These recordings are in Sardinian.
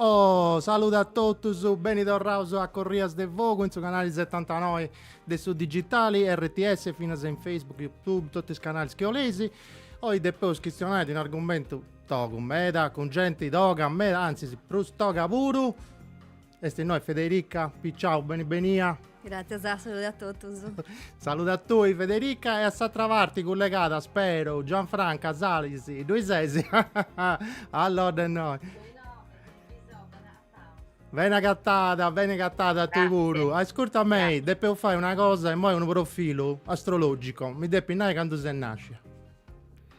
Oh, saludu a totus, beni torraus a Corrias de Fogu in su canali setantanoi de su digitali rts, finas in Facebook, Youtube, totu is canalis chi 'oleis. Oi depeus chistionai de un'argumentu togu meda, cun genti toga meda, antzis prus toga puru, Est innoi Federica Piciau, beni benia. Gràtzias, salude a totus. Salude a tui Federica e a s'atra parti cullegada, speru, Gianfranca Salis, ddoi ses? Allodda innoi. Bene agatada, bene agatada a tui puru. Ascurta mei, depeus fai una cosa immoi unu profilu astrologico, mi depis nai candu ses nascia.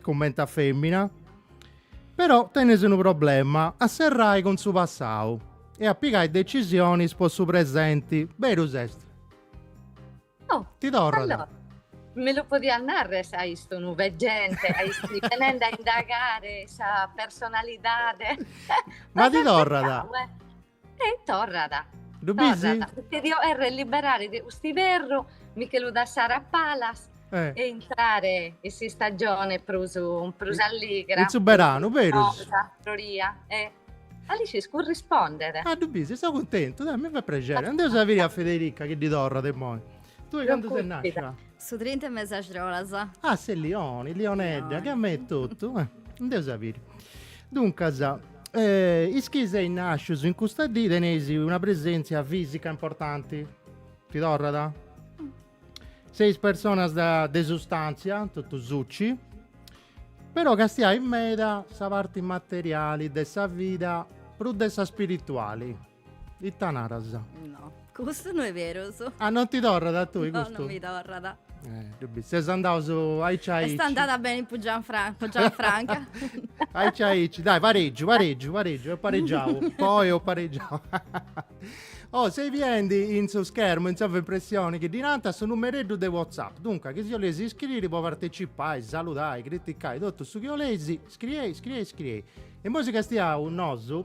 comente a femina, però tenes unu problema, a serrai cun su passau e a pigai decisionis po su presenti, berus est? Oh, ti torrat. Allora, mi lu podias narrer sa istu unu veggente, a istu venende a indagare sa personalidade. Ma ti torrat. E torrat. Ddu bisi? Torrat, poita dio 'errer liberare de custu iverru, mi che lu dassare a palas e intrare in s'istagione prus prus alligra. In su beranu, berus. Floria, e Alicis currispondet. Ah, ddu bisi, seu cuntentu, dai, mi fait prexeri. Andeus a biri a Federica chi ddi torrat immoi. Tui candu ses nascia? Su 30 de mes'e argiolas. Ah, ses Lioni, Lionedda, che a me totu. Eh, andeus a biri. Duncas, eh, is chi seis nascius in custa dì teneis una presèntzia fìsica importanti. Ti torrat? Seis personas de sustàntzia, totu suci, però castiais meda sa parti materiali de sa vida prus de sa spirituali. Ita naras? No, custu no est berus. Ah, non ti torrat a tui custu? No, non mi torrat. Eh, ddu bis. Seus andaus aici aici. Est andada beni po Gianfranca. Gianfranca. aici aici. Dai, pareggiu, pareggiu, pareggiu. Ho pareggiau. Poi ho pareggiau. Oh, seis biendi in su schermo, in sovrimpressione, chi ddi nanta, su numereddu de WhatsApp. Dunca, chi si 'oleis iscriri po partecipai, saludai, criticai, totu su chi 'oleis, scriei, scriei, scriei. E imoi si castiaus nosu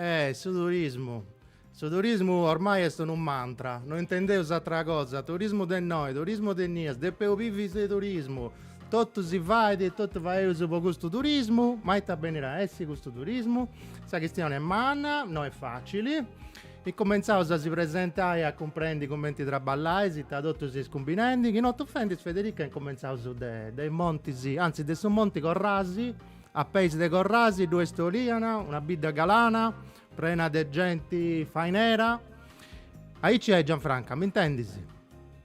Eh su turismu, su turismu ormai est unu mantra, no intendeus atra cosa, turismu de innoi, turismu de innias, depeus bivi de turismu, totu si fait e totu faeus po custu turismu, ma ita benit a essi custu turismu? Sa chistioni est manna, no est facili E incumentzaus a si presentai e a cumprendi cumenti traballais, ita totu seis cumbinendi, chi no t'ufendis Federica e incumentzaus de is montis, antzis de su monti Corrasi, a peis de Corrasi ddue est Oliana, una bidda galana, prena de genti fainera, aici est Gianfranca, m'intendis?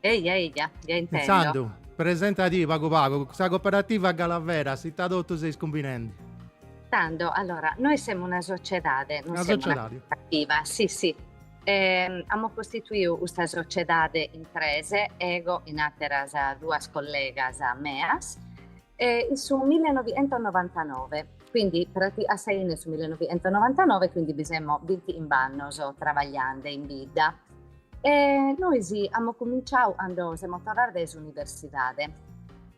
Eja, eja, ja intendo. Intzandus, presentadì pagu pagu sa Cooperativa Galaveras, ita totu seis cumbinendi. Tando, allora, nois semu una sociedade, non semu una cooperativa, si, si. Amus costituiu custa sociedade in tres, ego 'in ateras duas collegas meas, in su millenovientonovantanove, quindi a sa 'ine 'e su millenovientonovantanove, quindi bi semo binti'imb'annos trabagliande in bidda. E nois amus cuminciau cando semus torraos dae s'universidade.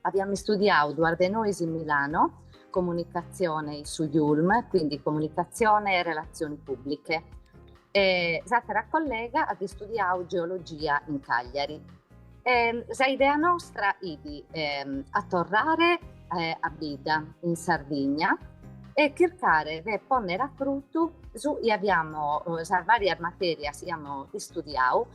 Aviamu istudiau duas de nois in Milano, comunicatzione in su IULM, quindi comunicatzione e relatzioni pùbliche, e s'àtera collega at istudiau geologia in Cagliari. Ehm, sa idea nostra 'it ehm, a torrare eh, a bidda in Sardigna e chircare de ponnere a fruttu su 'i aiamo eh, sas varias materias 'i amo istudiau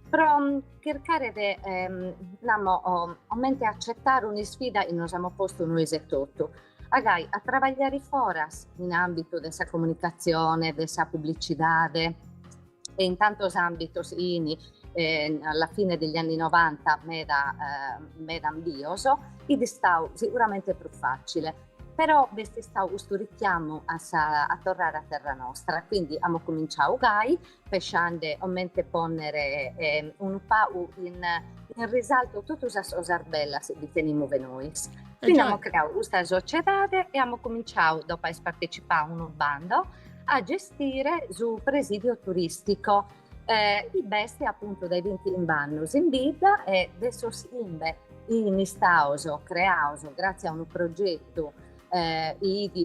pro mm, chircare de ehm, namo, 'omente accettare un'isfida 'i nos amo postu nois e totu agai a trabagliare foras in ambitu de sa comunicazione, de sa publicidade. e in tantos ambitos in eh, alla fine degli anni 90 meda, eh, meda 'ambios, 'it istau sicuramente prus facile. Però b'est stau custu richiamu a, sa, a torrare a terra nostra, quindi amo cominciau gai, pesciande 'omente ponnere eh, unu pagu in, in risalto totu sas cosas bellas chi tenimu de nois. Quindi amo creau custa sociedade e amo cominciau, dopo aer partecipau a unu bando, a gestire su presidio turistico eh, chi b'est appuntu dai 25 annos in bidda e de sos 'imbe 'in istaos creaos grazie a unu progettu eh,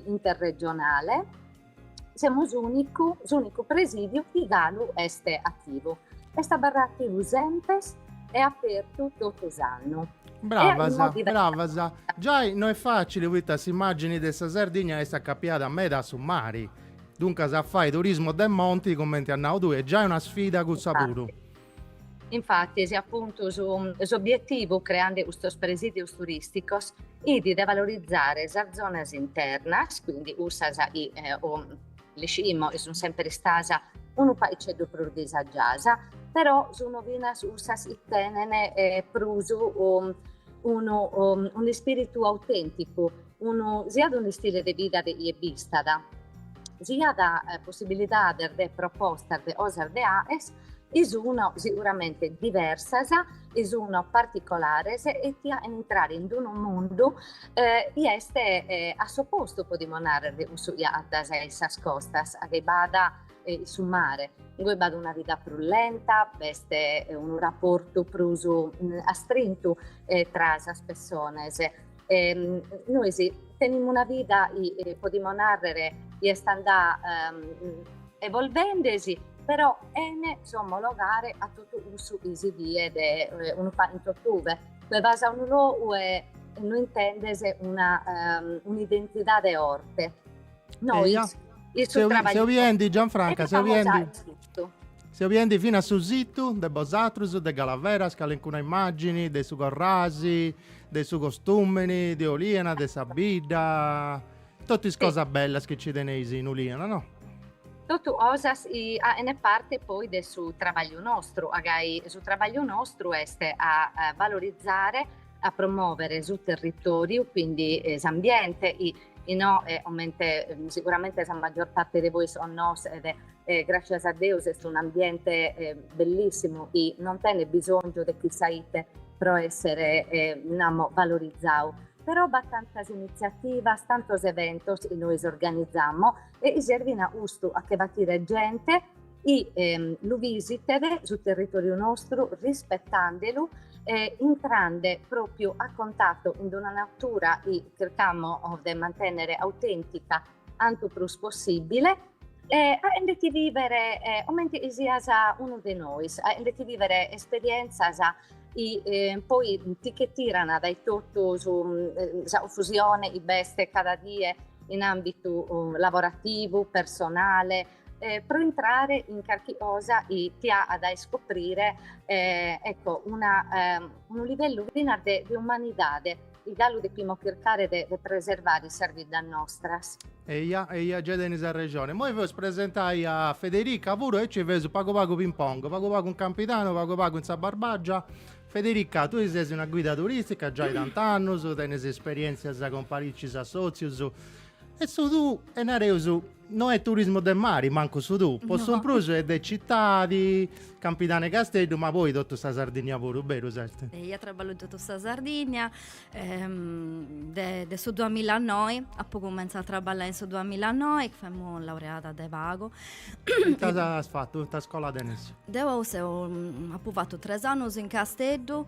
interregionale semos s'unicu presidiu chi galu est attivu, est abarrau attivu semper e apertu totu s'annu Bravas, bravas. Giai no est facili poita s'immagini de sa Sardigna est acapiada meda a su mari. Duncas a fai turismo de monti, cumenti as nau tui, est giai una sfida cussa puru. Infati, si apuntu s'obietivu creande custos presidios turisticos 'it de valorizare sas zonas internas, quindi cussas chi Liximo chi sun semper istasa unu paiceddu prus disagiasa, però sun finas cussas chi tenen prus unu un'ispiritu autenticu, unu siat un'istile de vida de chie b'istat, siat possibilidades de propostas de cosas de aer, chi sun siguramente diversas, chi sun particolares e ti aen intrare in unu mundu chi est a s'opostu, podimus narrer, de cussu chi acatas in sas costas, chi b'at in su mare, ingoi b'at una vida prus lenta, b'est unu raportu prus astrintu tra sas pessones, Ehm, nois tenimus una vida, i, eh, podimus narrere, i est andada ehm, evolvendesi, però chene s'omologare a totu cussu chi si viet eh, unu pacu in totube. Tue vas a unu logu e no intendes una, ehm, un'identidade orte. Nois, Eia. Seu, seu biendi, Gianfranca, seu biendi. Seu biendi finas su situ de bosatrus de Galaveras, calincuna immagini de su Corrasi, de su costumini, de Oliana, de sa bidda, totu is cosas bellas chi ci teneis in Oliana, no? Totu cosas chi aen parte poi de su trabagliu nostru, agai su trabagliu nostru est a valorizare, a promovere su territoriu, quindi s'ambiente, innoe comente siguramente sa maggior parte de bois connoschet e gràcias a Deus est un'ambiente bellìssimu chi non tenet bisòngiu de chissà ite pro èssere, namo, valorizadu, però b'at tantas initziativas, tantos eventos chi nois organizamo e chi servint a custu, a che battire gente chi lu visitet su territoriu nostru rispetandelu e intrande propriu a contatto in d'una natura chi chircamo de mantenere autentica Cantu prus possibile e aendeti vivere comenti chi sias unu de nois, aendeti vivere esperienzas chi poi ti che tiran dai totu su sa confusione chi b'est cada die in ambitu lavorativu, personale, pro intrare in carchi cosa chi ti aat iscoprire ecco una unu livellu finas de umanidade. Chi galu depimus chircare de preservare sas biddas nostras. Eia, eia, gei tenis arrexone. Immoi feus presentai a Federica puru e aici feus pagu pagu ping pong, pagu pagu in Campidanu, pagu pagu in sa Barbagia. Federica, tui ses una guida turistica giai tant'annus, tenis isperientzias cun paricis assotzius E su tuu e nareus no est turismu de mari mancu su tuu, po su prus est de citadi, Campidanu e Casteddu, ma poi totu sa Sardinnia puru, beru s'est? Eja traballu totu sa Sardinnia, de su duamilla e noi, apu cumentzau a traballai in su duamilla e noi, femu laureada de pagu. Ita as fatu, ita iscola tenis? Deu seu, apu fatu tres annus in Casteddu,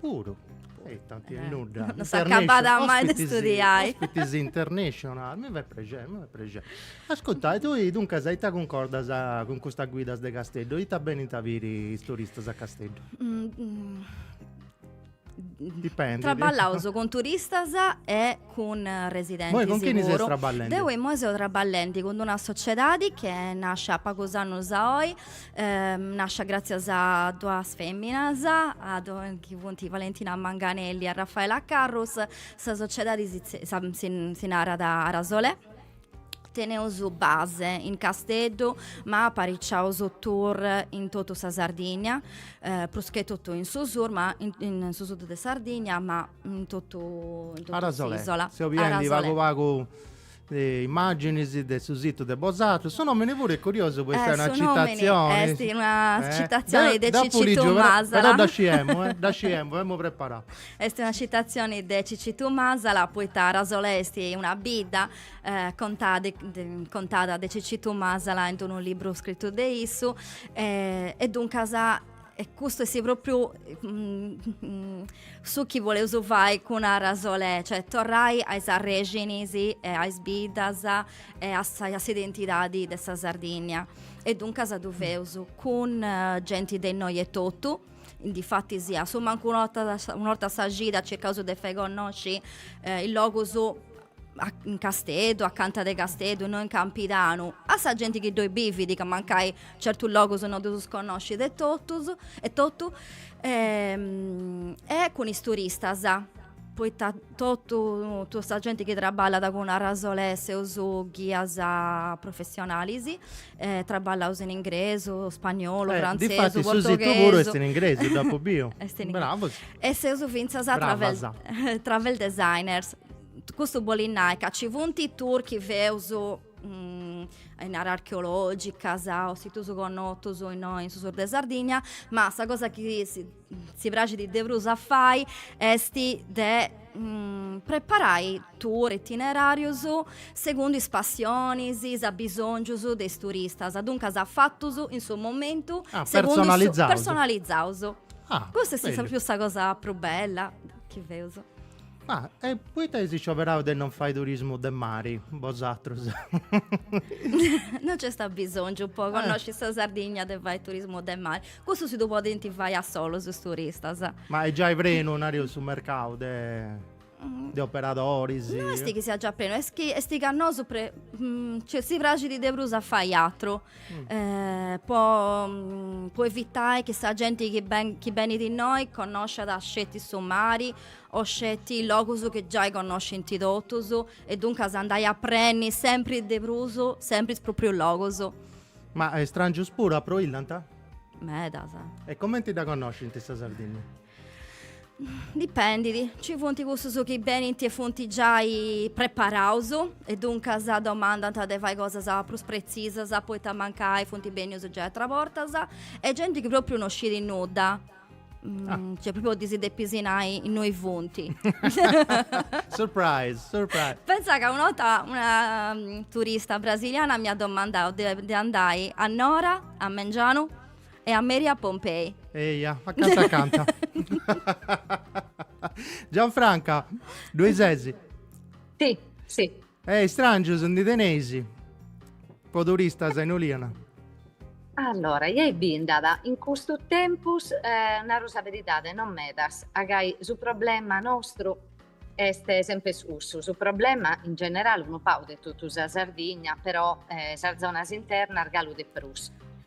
Puru. E t'at a essi nudda. Non s'acabat mai de studiai. Ospitis internatzionalis, mi fait prexeri, mi fait prexeri. Ascurta, e tui duncas ita cuncordas cun custas guidas de Casteddu? Ita benint a biri is turistas a Casteddu? Dipendit. Traballaus cun turistas e cun residentis puru. Imoi cun chini ses traballendi? Deu imoi seu traballendi cun d'una sociedadi chi est nascia pagus annus a oi Nascia gràtzias a duas fèminas, chi funt Valentina Manganelli e Raffaela Carrus, sa sociedadi si narat Arasole, teneus base in Casteddu ma apariciaus tour in totu sa Sardigna, prus che totu in su sur ma in su sud de Sardigna ma in totu in totu s'ìsola. Arasole, seu biendi pagu pagu de immàginis de su situ de bosatrus, su nòmini puru est curiosu po essai una citazioni. Est una citazioni de Cicitu Masala. Però dda sciemus, eh, dda sciemus, amus preparau. Est una citazioni de Cicitu Masala poita Arasole est una bidda contada contada de Cicitu Masala in unu libru scritu de issu e duncas E custu est propriu su chi boleus fai cun Arasole, cioè torrai a is arrexinis e a is biddas e a sa, a s'identidadi de sa Sardinnia. E duncas ddu feus cun genti de innoi etotu, difatis a su mancu un'orta, un'orta sa cida circaus de fai connosci is logus a in Casteddu, acanta de Casteddu, no in Campidanu, a sa genti chi ddoi bivit, ca mancai certus logus no ddus connoscit etotu etotu e cun is turistas, poita totu totu sa genti chi traballat cun Arasole seus ghias professionalis e traballaus in ingresu, spagnolu, frantzesu, portoghesu. E difatis su situ puru est in ingresu, dd'apu biu. Est in ingresu. Bravus. E seus fintzas travel designers. Custu bolit nai ca ci funt tour chi feus in àreas archeologicas o situs connotus innoi in su sur de Sardigna, ma sa cosa chi si praxit de prus a fai est de preparai tour itinerarius segundu is passionis, is abisongius de is turistas, duncas fatus in su momentu personalizaus, custa est prus sa cosa prus bella chi feus Ma e poita eis scioberau de non fai turismu de mari, bosatrus? no nc'est abisongiu po connosci sa Sardigna de fai turismu de mari, cussu si ddu podint fai a solus is turistas. Ma est giai prenu, nariu, su mercau de de operadoris? No est chi siat già prenu, est chi est chi a nosu si praxit de prus a fai atru. po po evitai chi sa genti chi ben chi benit innoi connosciat sceti su mari o sceti logus chi giai connoscint totus e duncas andai a prenni sempri de prus sempri is proprius logus. Ma is strangius puru approillanta? Medas. E comenti dda connoscint sa Sardinnia? Dipendit, ci funt cussus chi benint e funt giai preparaus e duncas domandant de fai cosas prus pretzisas poita mancai funt bennius giai atras bortas e genti chi propriu no scit nudda, cioè propriu ddis depis nai innoi funt. Surprise, surprise. Pentza ca una 'orta una turista brasiliana m'iat domandau de andai a Nora, a mengianu E a meri a Pompei. Eia, acanta acanta. Gianfranca, ddoi ses? Sì, sì. E istràngius ndi teneis po turistas in Oliana? Allora, ja bi nd'at in custu tempus, naru sa beridade, non medas, a gai su problema nostru est semper cussu, su problema in generale unu pagu de totu sa Sardigna però sas zonas internas galu de prus.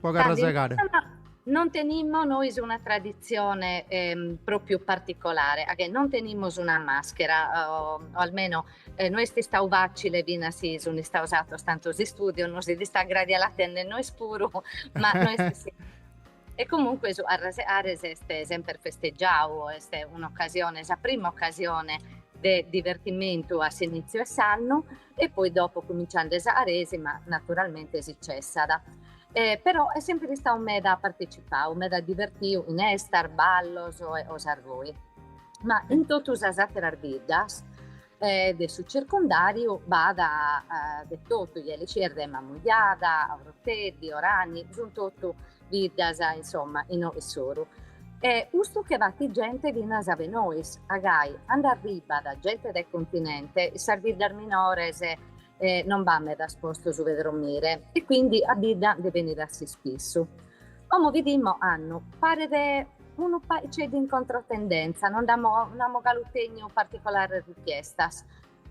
Po carrasegare. Non tenimmo nois una traditzione propriu particolare, a che non tenimos una maschera, o almeno no est istadu facile finas si sun istados atos tantos istudios, nos fit istau gradiu a la tenner nois puru, ma no est si. E comunque su arrasegare est semper festeggiadu, est un'occasione, sa prima occasione de divertimentu a s'initziu 'e s'annu, e poi dopo cuminciande sa aresima naturalmente si cessat e però est sempre istadu meda partecipadu, meda divertiu in estas, ballos e cosas goi. Ma in totu sas ateras biddas de su circundariu b'at de totu, ieli cirde, Mamujada, Oroteddi, Orani, sun totu biddas, insomma, inoe in s'oru. E custu che batit gente finas a ube nois, a gai, and'arribbat gente de continente, in sas biddas minores non b'at medas postos ube dromire e quindi a bidda ndi benit a s'ispissu. Como bidimos ocannu, paret unu paiceddu in controtendenza, non nd'amus galu tènniu particolares richiestas,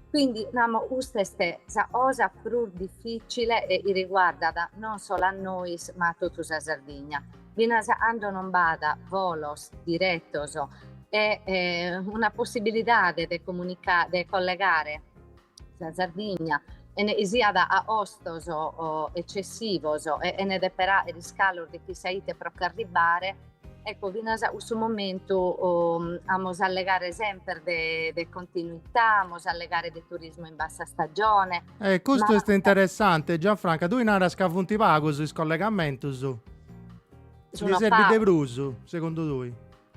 Quindi namo custa est sa cosa prus difficile e chi riguardat non solo a nois ma a totu sa Sardigna, finas a cando non b'at volos diretos e una possibilidade de comunicare, de collegare sa Sardigna chene chi siat a costos eccessivos e chene dèpere fàghere iscalos de chissà ite pro ch'arribbare, Ecco, finas a cussu momentu amus a allegare semper de de continuità, amus a allegare de turismo in bassa stagione. E custu est interessante, Gianfranca, tui naras ca funt pagus is collegamentus, ndi serbit de prus, segundu tui?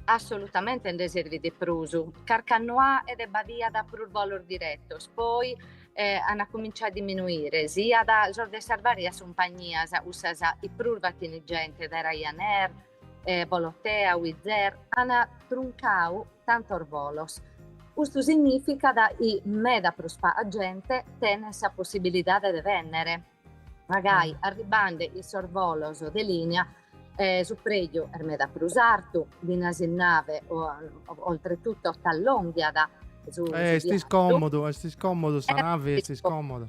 Assolutamente ndi serbit de prus, carchi annu faghet b'aviat prus bolos diretos, poi eh, an cominciau a diminuire, siat sos de sas varias cumpagnias, cussas chi prus batint gente de Ryanair, eh, Volotea, Wizz Air, an truncau tantos volos. Custu significat chi meda prus paga gente tenet sa possibilidade de vènnere. Magari arribande in sos volos de linea eh, su preju est meda prus artu, finas in nave, oltretutto t'allonghiat su, eh, est iscòmodu, est iscòmodu, sa nave est iscòmoda.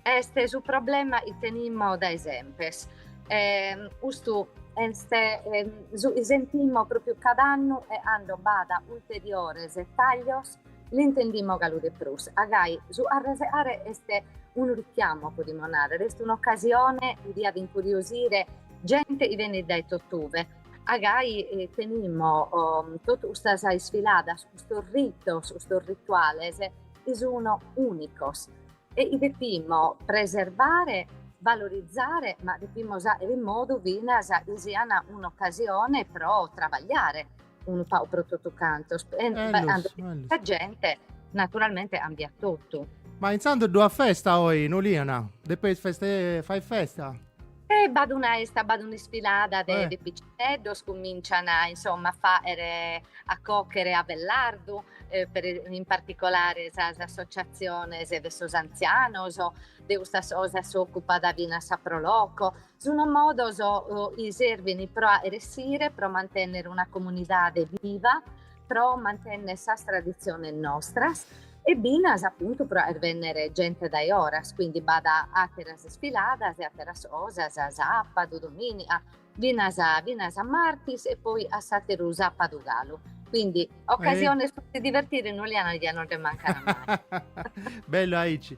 Est su problema chi tenimo dae sempes. Eh, custu est, eh, su, sentimo pròpiu cada annu e cando b'at ulteriores taglios L'intendimo galu de prus, a gai su carrasegare est unu richiamo, podimus nàrrere, est un'ocasione chi diat incuriosire gente chi benit dae totue, a gai tenimo totu custas isfiladas, custos ritos, custos rituales chi sun ùnicos e chi depimo preservare, valorizare, ma depimo fàghere in modu finas chi sian un'ocasione pro trabagliare unu pau pro totu cantos, e eh, sa gente naturalmente cambiat totu. Ma intzandus ddu at festa oi in Uliana? Depeis feste fai festa? E b'at una esta, b'at un'isfilada de, eh. de picinneddos, cumincian a insomma a faghere, a cochere ava e lardu, eh, per, in particolare sas associaziones de sos anzianos, de custas cosas s'occupat finas sa Pro Loco, Sunt modos chi serbint pro fàghere essire, pro mantènnere una comunidade viva, pro mantènnere sas traditziones nostras e finas apuntu pro fàghere bènnere gente dae oras, quindi b'at àteras isfiladas e àteras cosas, a sàbadu, domìniga, finas finas a martis e poi a s'àteru sàbadu galu. Quindi ocasiones pro si divertire in Uliana no nde mancan mai. Bellu aici.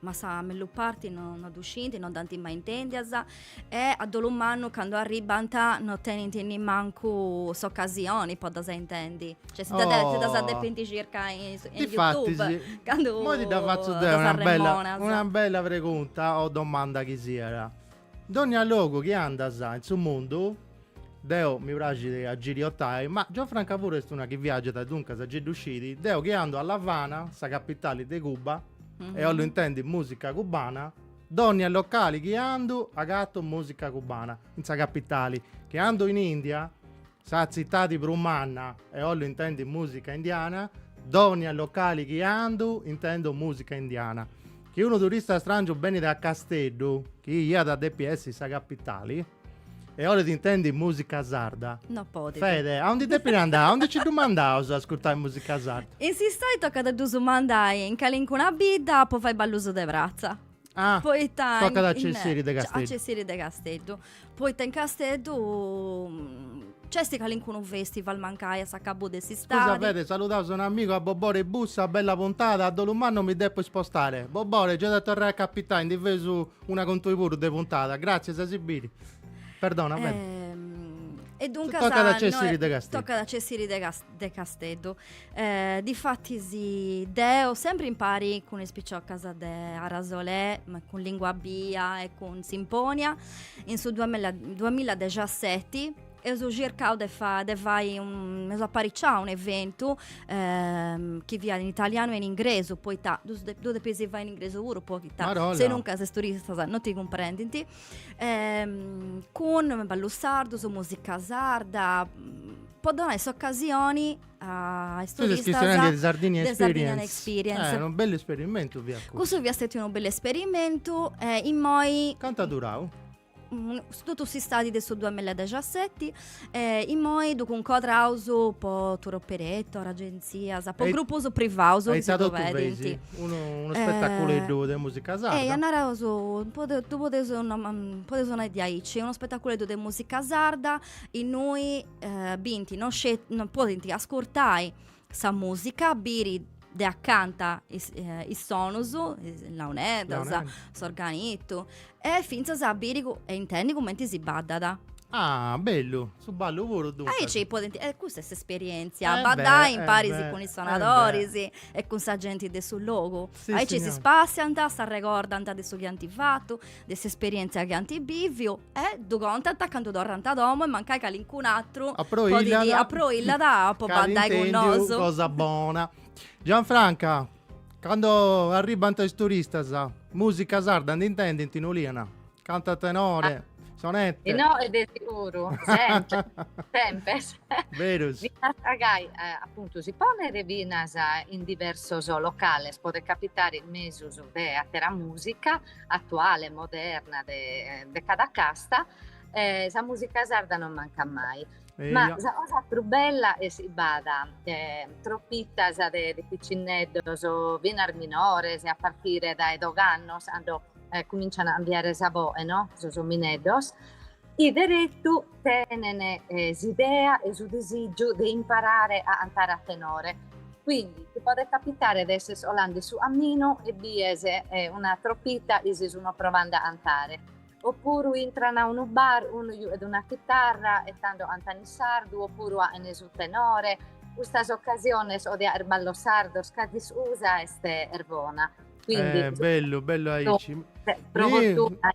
ma sa mellu parti no, no ddu scint, no ddas ant mai intèndias e a dolu mannu candu arribant no tenint nimancu s'ocasioni po ddas intendi. Cioè si dda de- si ddas Oh. depint circai in, su- in Difatis, Youtube candu moi ti dda fatzu deu ddas una bella, arremonas. una bella pregunta o domanda chi siat. Dònnia logu chi andas in su mundu, deu mi praxit a giriotai, ma Gianfranca puru est una chi viàgiat e duncas a gei ddu scit, deu chi andu a L'Avana, sa capitali de Cuba, e 'ollu intendi mùsica cubana, dònnia locali chi andu agatu mùsica cubana, in sa capitali, chi andu in India Sa tzitadi prus manna e ollu intendi musica indiana, dònnia locali chi andu intendu musica indiana. Chi unu turista strangiu benit a Casteddu, chi iat a depi essi sa capitali, e olit intendi musica sarda, No podit. Fede, aundi depit andai, aundi nci ddu mandaus a ascurtai musica sarda? In s'istadi tocat a ddus mandai in calincuna bidda po fai ballus de pratza. Ah, poita tocat a cessiri de Casteddu. A cessiri de Casteddu. Poita in Casteddu mm, c'est calincunu festival mancai a s'acabu de s'istadi. Scusa Fede, saludaus un amigu a Bobore Bussa, bella puntada, a dolu mannu mi depu ispostare. Bobore, gei at a torrai a capitai, ndi feus una cun tui puru de puntada. Gratzias, a si biri. Perdona Fede. Ehm, E duncas... Tocat a cessiri de Casteddu. Tocat a cessiri de Casteddu. Eh, difatis deo sempri impari cun is piciocas de Arasolè, ma cun Lingua Bia e cun Simponia, in su duamilladexaseti eus circau de de fai un, eus apariciau un'eventu eh, chi fiat in italianu e in ingresu, poita ddu de, ddu depis fai in ingresu puru poita Marolla. se nunca is turistas no ti cumprendint. Eh, cun ballus sardus, musica sarda, po donai s'ocasioni a is turistas de Sardinian Experience, Sardinian Experience. Eh, unu bellu esperimentu fiat cussu cussu fiat stetiu unu bellu esperimentu e immoi cant'at durau? Mm, totu s'istadi de su duamilla e dexaseti e immoi ddu cuncodraus po tour operator, agenzias, po e grupus privaus chi si ddu pedint unu spetaculeddu de musica sarda eia naraus ddu podeus nau podeus nai de aici unu spetaculeddu de musica sarda innui eh, bint non, scet- non podint ascurtai sa musica, biri de accanta is, eh, is sonus, is launedas, Launedda. s'organitu, e finzas a biri cu- e intendi cumenti si baddat. Ah, bellu, su ballu puru E duncas. aici podint, e custa est s'esperientzia, Eh beh, baddai eh imparis beh, cun is eh sonadoris e cun sa genti de su logu. Sì, aici si signora. spassiant, s'arregordant de su chi ant fatu de s'esperièntzia chi ant bìviu e ddu contant candu torrant a domu e mancai calincun'atru aproillat po bandai cun nosu. Cosa bona. Gianfranca, candu arribbant is turistas, mùsica sarda nd'intendint in Oliana? Cantant tenore? Sonette? Tenore de seguru, sempri, sempes. Berus. Gai, apuntu, si ponet finas in diversos locales, podet capitare in mesus de àtera mùsica. atuale, moderna de, de cada casta, eh, sa musica sarda non mancat mai. E Ma sa cosa prus bella est chi b'at eh, tropitas de, de piccinneddos, finas minores, a partire dae doigh'annos, cando eh, cominciano a cambiare sa boghe, no? Sos omineddos. Chi deretu tenen s'idea e su disìgiu de imparare a cantare a tenore. Quindi, ti podet capitare de esser colande su caminu e bies una tropita chi si sunu provande a cantare. Opuru intran a unu bar, unu giughet una chitarra e tando cantan in sardu, opuru faghen su tenore. Custas ocasiones o de fàgher ballos sardos cada iscusa est est bona. Quindi, bellu, bellu aici. Pro fortuna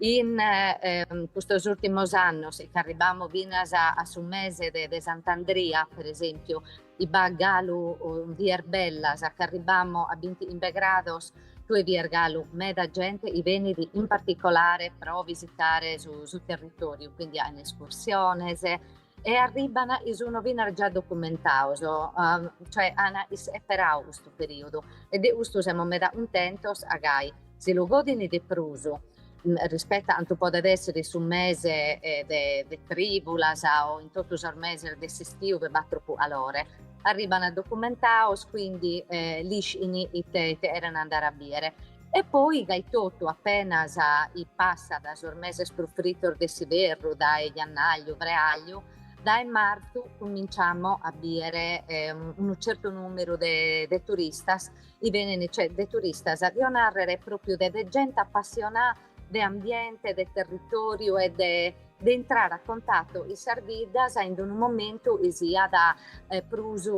In custos ùrtimos annos, e ch'arribamus finas a su mese de Sant'Andria, per esèmpiu, chi b'at galu dies bellas, ch'arribamus a binti chimbe grados, tue bies galu meda gente chi benit in particolare pro visitare su su territòriu, quindi faghen escursiones, e arribban chi sunu finas già documentaus, cioè an isperau custu perìodu e de custu semus meda cuntentos ca gai si lu godint de prus rispettu a cantu podet èssere in su mese de de trìbulas o in totu sos meses de s'istiu chi b'at tropu calore. Arribban documentaus, quindi l'ischint ite ite cherent andare a bìdere E poi gai totu apenas chi passat sos meses prus fritos de s'iberru dae jannagliu freagliu dae martzu cuminciamo a biere unu certu numeru de de turistas chi benene cioè de turistas dio narrere propriu de de gente appassionà de ambiente de territoriu e de de intrare a contatto chin sas biddas in d'unu momentu chi siat prus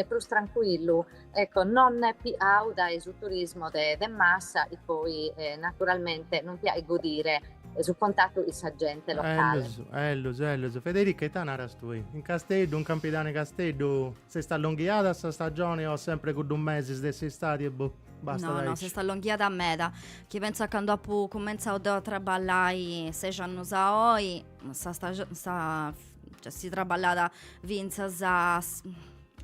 prus trancuillu, ecco, non piau dae su turismo de de massa, chi poi naturalmente non ti faghet godire su contattu cun sa gente locale. Ellus, ellus, ellus, Federica, ita naras tui? In Casteddu, in Campidanu 'e Casteddu? S'est allonghiada sa stagioni o sempre cuddu mesis de s'istadi e boh? Basta no, no, s'est allonghiada meda. Chi pensu candu apu cumentzau deu a traballai ses annus a oi, sa stagioni, sa, cioè si traballat fintzas a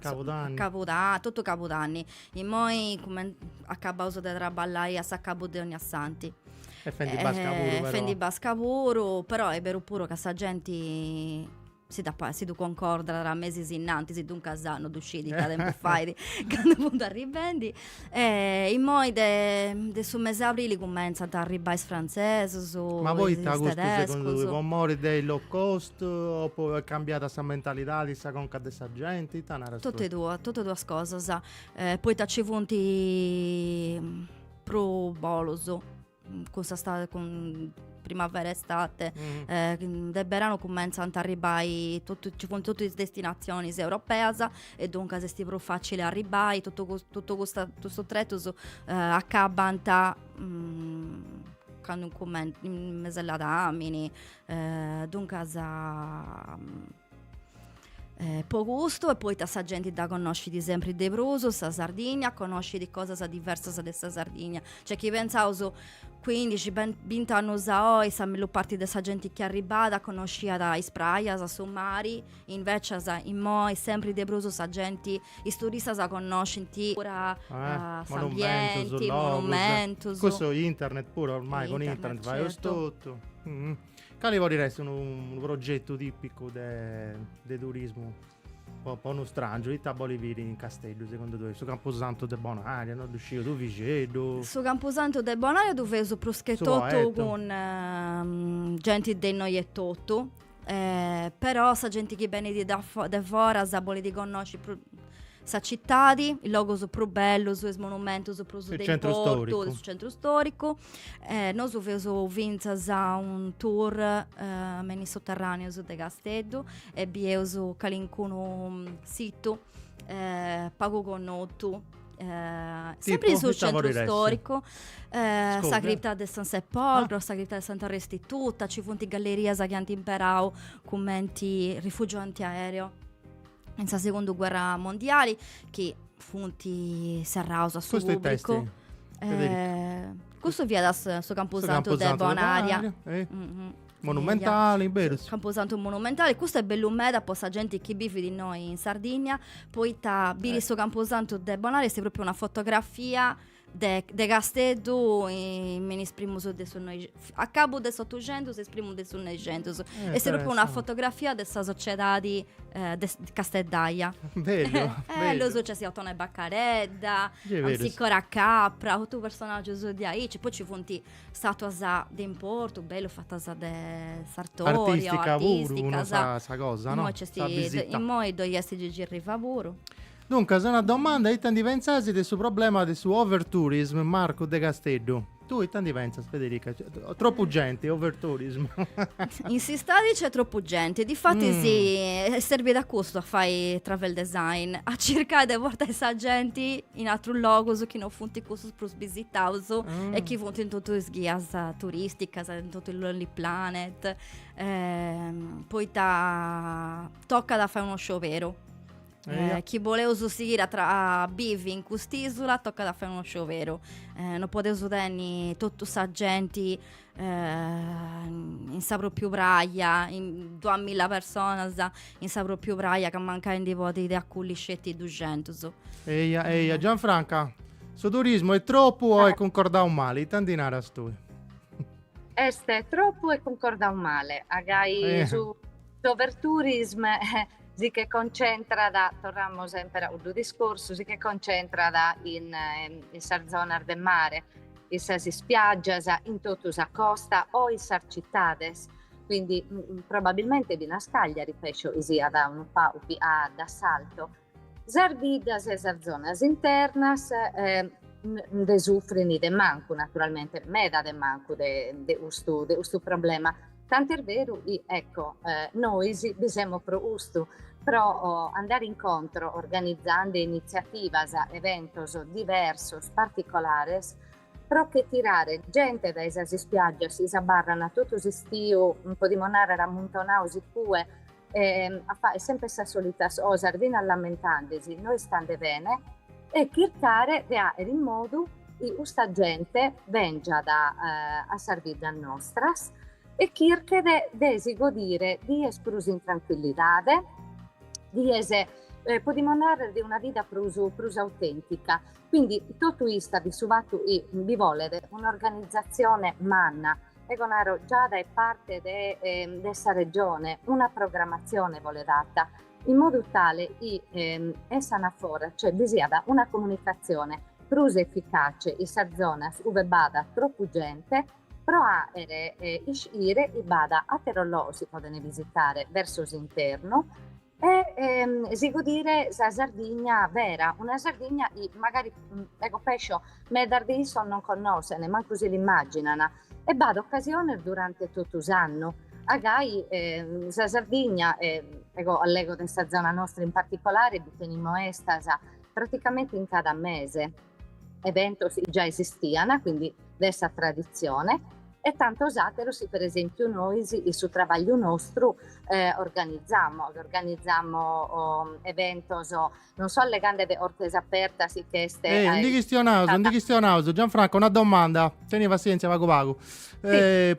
Cabudanni. Cabuda, totu Cabudanni. Immoi cumen, acabaus de traballai a s'acabu de Onniasantu. E fendi basca puru però. E fendi basca puru, però est beru puru ca sa genti si dd'at pa- si ddu concordat mesis innantis, duncas no ddu scit ita tempus fait candu funt arribendi. E immoi de de su mesi 'e abrili cumentzant a arribai is frantzesus, Ma poita is custu segundu tedescus. tui, po mori de is low cost o po est cambiada sa mentalidadi, sa conca de sa genti, ita naras tui? Totu e duas, totu e duas cosas, poita nci funt prus bolus cun sa stade cun primavera estate mm. de beranu cumentzant a arribai totu, ci funt totu is destinazionis europeas e duncas est prus facili arribai totu, totu custa, custus tretus eh, acabant mm, candu incument, in mes'e ladamini eh, duncas mm, Eh, po custu e poita sa genti dda connoscit sempri de prus, sa Sardigna, connoscit cosas diversas de sa Sardigna. Cioè chi pensaus 15, 20 annus a oi sa mellus parti de sa genti chi arribada connosciat is prajas, su mari, invecias immoi sempri de prus sa genti, is turistas connoscint puru eh, s'ambienti, monumentus. Custu internet puru, ormai cun internet faius totu. Cali podit essi unu progetu tipicu de turismu po po unu strangiu ita bolit biri in Casteddu segundu tui? Su campusantu de Bonaria, no ddu sciu, Tuvixeddu? Su campusantu de Bonaria ddu feus prus che totu cun genti de innoi etotu però sa genti chi benit de foras bolit connoci sa citadi, is logus prus bellus, is monumentus prus de importu de su centru storicu. Nosu feus fintzas a un tour me in is soterraneus de Casteddu e bieus calincunu situ pagu connotu sempri in su centru storicu, sa cripta de San Sepolcro, sa cripta de Santa Restituta, ci funt gallerias chi ant imperau cumenti rifugiu antiaereo. in sa segundu guerra mondiali chi funt serraus a su pubblicu. Eh, custu fiat su camposantu de Bonaria. Eh? Mm -hmm. Monumentali, berus?. Camposantu monumentali, custu est bellu meda po sa genti chi bivit innoi in Sardigna, poita biri eh. su camposantu de Bonaria est propriu una fotografia De, de Casteddu in is primus de su noi, a cabu de s'Otuxentus e is primus de su Noixentus. Eh, est propriu una fotografia de sa sociedadi eh, casteddaia. Bellu, eh, bellu. Nc'est Ottone Baccaredda, Zedda-Piras Capra, totu personaggius de aici. Poi ci funt statuas de importu, bellu fatas de Sartorio, artistica, artisticas. Puru, sa, sa cosa, no? Immoi, sa visita. Immoi ddoi est Gigi Riva puru. Duncas, una domanda, ita ndi pentzas de su problema de su overtourism, Marcu de Casteddu? Tui ita ndi pentzas Federica? Tropu genti, overtourism. In s'istadi nc'est tropu genti, difatis mm. est serbida a custu a fai travel design, a circai de portai sa genti in atrus logus chi no funt cussus prus bisitaus mm. e chi funt in totu is ghias turisticas, in totu is lonely planet, eh, poita tocat a fai unu scioberu Eh, chi boleus sighire a, tra- a bivi in cust'isula tocat a fai unu scioberu. Eh, non podeus tenni totu sa genti eh, in sa propriu praia, in duamilla personas in sa propriu praia, ca mancai ndi podit acolli sceti duxentus. Eia, eia, Gianfranca, su turismu est tropu o est eh. concordau male? Ita ndi naras tui? Est tropu e cuncordau male, agai eh. su Overtourism eh, si che concentrat, torramus semper a cuddu discorsu, si che concentrat in, in sas zonas de mare, in sas ispiaggias, in totu sa costa o in sas cittades, quindi probabilmente finas Cagliari pesso siat unu pagu leada d'assalto. Sas biddas e sas zonas internas eh, nde sufrin de mancu naturalmente, meda de mancu de, de custu, de custu problema, Tant'est beru chi, ecco, nois bi semus pro custu, pro andare in contro organizande initziativas, eventos diversos, particolares, pro che tirare gente dae sas ispiaggias chi s'abarrana totu s'istiu, podimus nàrrere ammuntonados in cue, e a faer sempre sas solitas cosas finas lamentandesi no istande bene e chircare de faer in modu chi custa gente bengiat a sas biddas nostras e chirchet de si godire dies prus in tranquillidade, dies podimus narrer de una vida prus prus autentica. Quindi totu istat in su fattu chi bi bolet un'organizzazione manna ego naro già dae parte de, ehm, de sa Regione, una programmazione bolet fatta, in modu tale chi ehm, essant a fora, cioè bi siat una comunicazione prus efficace in sas zonas ue b'at tropu gente, pro fàere iscire chi b'at àteros logos chi podent visitare verso s'internu, E si godire sa Sardigna vera, una Sardigna chi magari ego pescio medas de issos non connoschent, mancu si l'immaginant, e b'at ocasiones durante totu s'annu a gai sa Sardigna, ego allego de sa zona nostra in particolare, bi tenimo 'estas praticamente in cada mese. Eventos chi già esistian, quindi de sa traditzione, e tantos àteros chi per esèmpiu nois in su trabagliu nostru organizamos, organizamos eventos non so allegande de 'ortes apertas chi ch'est. Ehi, ndi chistionaus, ndi chistionaus, Gianfranco, una domanda, teni passièntzia pagu pagu,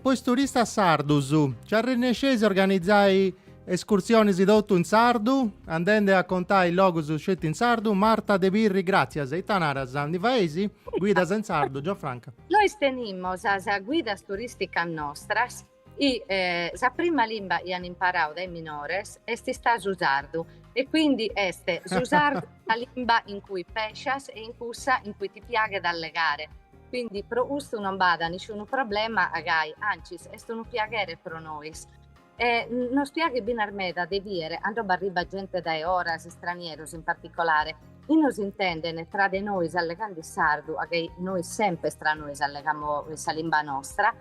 po is turistas sardus, nci arrennesceis a organizai Escursionis totu in sardu, andende a contai logus sceti in sardu, Marta de Pirri gràtzias, ita naras, ndi faeis? Guidas in sardu, Gianfranca. Nois tenimo sas guidas turìsticas nostras e sa prima limba chi an imparau dae minores est istau su sardu e quindi est su sardu sa limba in cui pescias e in cussa in cui ti piaghet allegare, quindi pro custu non b'at nisciunu problema a gai, ancis est unu piaghere pro nois E nos piaghet binas meda de bier 'ando b'arribbat gente dae 'oras, istranieros in particolare, e nos intenden, tra de nois allegand' in sardu, a gai nois sempres tra nois allegamo in sa limba nostra,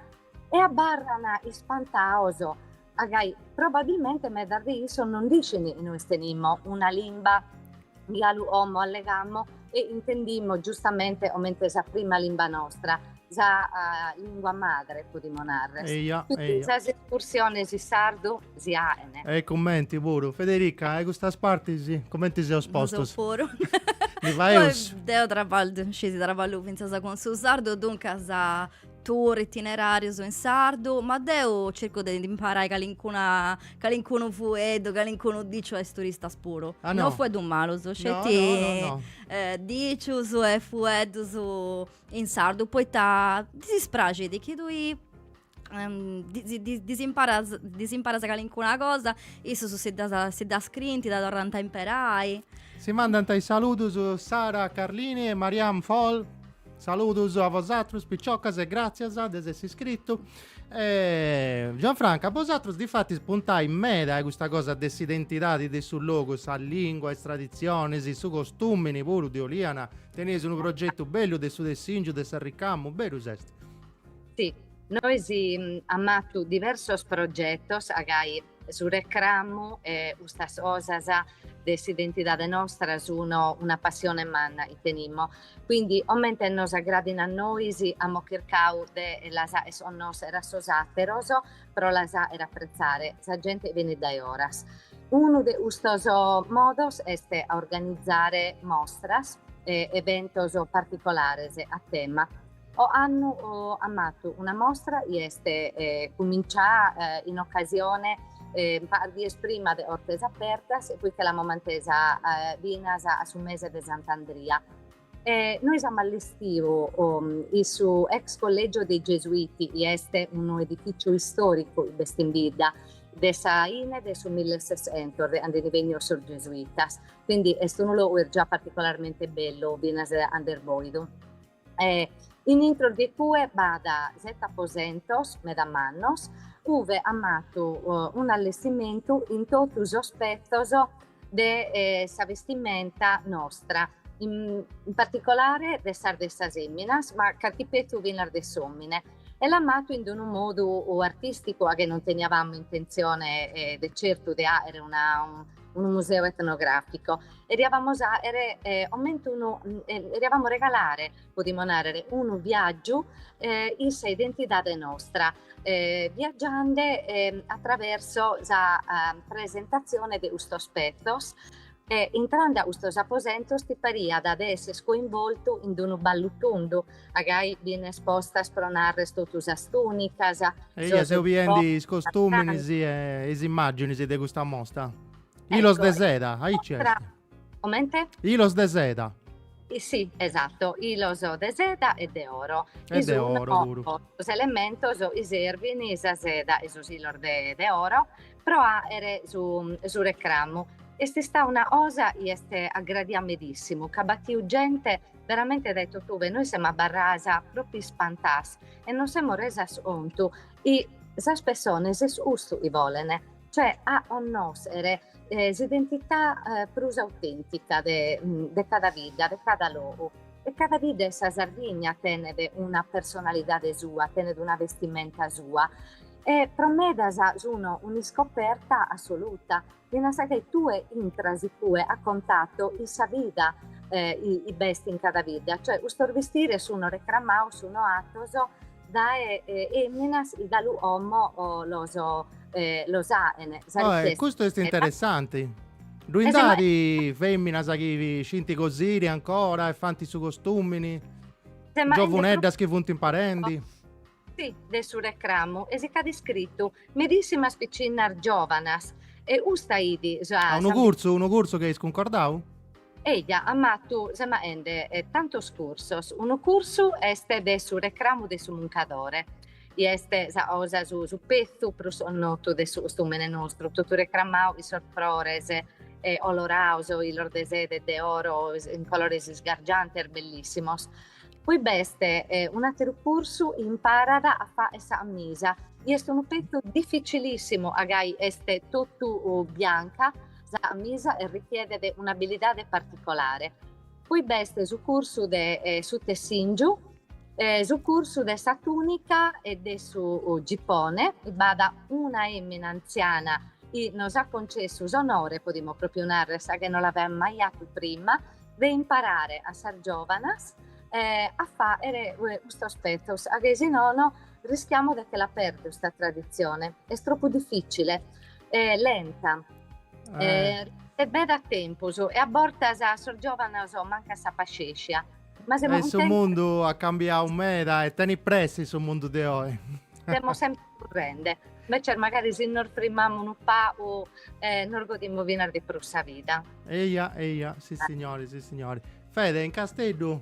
e abarran ispantados, a gai probabilmente medas de issos non nd'iscin chi nois tenimo una limba Galu 'omo allegamo e intendimo giustamente comente sa prima limba nostra, sa lingua madre podimo narrer. Eia, eia. Sas escursiones in sardu si aen. E commenti puru. Federica, a custas partis commenti seus postus? Su puru. Li faeus? Deu traballu, scisi, traballu fintzas cun su sardu, duncas tour itinerarius in sardu, ma deu circu de imparai calincuna calincunu fueddu, calincunu diciu a is turistas puru. Ah, no? No fueddus malus, No, sceti no, no, no. eh, dicius e fueddus in sardu, poita ddis praxit chi tui ehm, ddis ddis ddis imparas ddis imparas calincuna cosa, issus si ddas si ddas scrint, dda torrant a imperai. Si mandant is saludus Sara Carlini e Mariam Fol. Saludus a vosatrus piciocas e gràtzias de s'essi iscritu. E... Gianfranca, bosatrus difatis puntai meda a custa cosa de s'identidadi de su logu, sa lìngua, is traditzionis, su costùmini puru de Oliana. Teneis unu progetu bellu de su tessìngiu de s'arricamu, berus est? Si, nois amo 'atu diversos progetos a gai su recramu e custas cosas de s'identidade nostra sun una passione manna chi tenimo. Quindi, comente nos agradin a nois, amo chircau de las aer onnoser a sos ateros pro las aer appretzare. Sa gente benit dae oras. Unu de custos modos est a organizare mostras e eventos particolares a tema. Oannu am'atu una mostra i est cumincià in ocasione pagas dies prima de Ortes Apertas e poi che l'amo mantesa binas a su mese de Sant'Andria. E nois amo allestiu in su ex Collegio dei Gesuiti i est unu edificio istoricu b'est in bidda de sa hine de su millesessentos de ande ndi bennios sos Gesuitas quindi est unu logu est già particolarmente bellu binas and'est boidu. E in intros de cue b'at sete aposentos meda mannos, ue am'atu un'allestimentu in totu sos petzos de sa bestimenta nostra, in particolare de sas de sas eminas, ma carchi petzu finas de s'omine. E l'am'atu in d'unu modu artisticu a che non teniavamo intenzione de certu de aere una unu museu etnogràficu eriavamos aere comente unu, eriavamos regalare, podimos nàrrer, unu viàgiu in sa identidade nostra, viagiande a traversu sa presentazione de custos petzos e intrande a custos aposentos ti pariat de esser coinvoltu in d'unu ballu tundu A gai bin espostas pro narrer totu sas tunicas. Eia seu biendi is costuminis e is immaginis de custa mosta. Hilos de seda, aici est. Comente? Hilos de seda. Sì, esatto, hilos de seda e de oro. E de oro puru. Sos elementos chi servin sa seda e sos hilos de oro pro aer su recramu. Est istà una cosa chi est aggradia medissimu ca at batiu gente Veramente dae totube nois semo abarras propriu ispantas e nos semo resas contu chi sas pessones est custu chi bolene, cioè a onnosere s'identità prus autentica de de cada bidda, de cada logu. E cada bidda 'e sa Sardigna tenet una personalidade sua, tenet una vestimenta sua e pro medas sun un'iscoperta assoluta Binas ca tue intras ippue a contato in sa vida chi b'est in cada bidda, cioè custos bistires sun recramaos sun atos dae emminas chi galu omo los los aen. Custu est interessanti. Ddu ind'at feminas chi scint cosiri ancora e fant su costumini? Giovuneddas chi funt imparendi? Si, de su recramu e si ch'at iscritu medissimas piccinnas giòvanas, e custu est unu cursu, unu cursu chi eis cuncordau? Eja, amus atu, semus aende tantos cursos, unu cursu est de su recramu de su muncadore, i est sa cosa su su petzu prus connotu de su costumene nostru, totu recramau in sos frores oloraos, ilos de seda e de oro in colores isgargiantes bellissimos. Poi b'est un'àteru cursu, imparat a fàere sa amisa, chi est unu petzu dificilìssimu a ca est totu bianca, sa amisa e richiedet un'abilidade particolare. Poi b'est su cursu de su tessìngiu, su cursu de sa tùnica e de su gipone, b'at una èmina antziana chi nos at concessu s'onore, podimus pròpiu nàrrere, a ca no l'aveat mai atu prima, de imparare a sas giòvanas a fàere custos petzos, a ca si nono rischiamus de che la pèrdere sta traditzione, est tropu difìcile, lenta, richiet meda tempus e a bortas a sos giòvanos mancat sa paxèscia. Su mundu at cambiadu meda e tenit pressi su mundu de oi. currende, invece magari si nos frimamus unu pagu e nos godimus finas de prus sa vida. Eia, eia, sissignori, sissignori. Fede, in Casteddu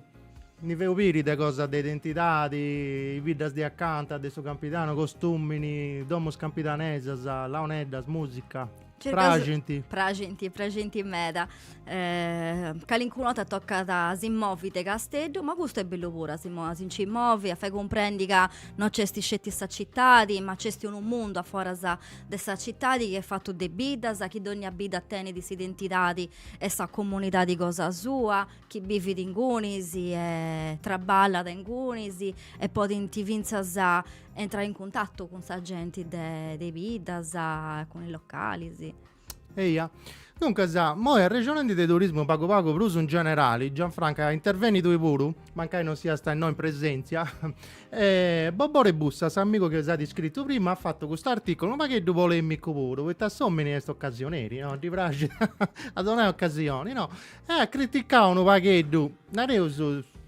ndi feu biri de cosas de identidadi, is biddas de acanta de su Campidanu, costumini, domus campidanesas, launeddas, musica. Praxint. Praxint, praxint meda. Eh, calincuna 'orta tocat a si-ndi movi de Casteddu, ma custu est bellu puru, a si, a si nci movi, a fai cumprendi ca no nc'est sceti sa citadi, ma nc'est unu mundu a foras de sa citadi chi est fatu de biddas, chi dònnia bidda tenit s'identidadi e sa comunidadi cosa sua, chi bivit ingunis e traballat ingunis e podint fintzas intrai in cuntatu cun sa genti de, de biddas, cun is localis. Eia. Duncas, moi arrexonendi de turismu pagu pagu prus in generali, Gianfranca, interveni tui puru, mancai non siasta innoi in presentzia, e Bobore Bussa, s'amigu chi s'at iscritu prima, at fatu cust'articulu unu pagheddu polemicu puru, poita s'omini est ocasioneri, no, ddi praxit a donai ocasioni, no, Eh, at criticau unu pagheddu, nareus,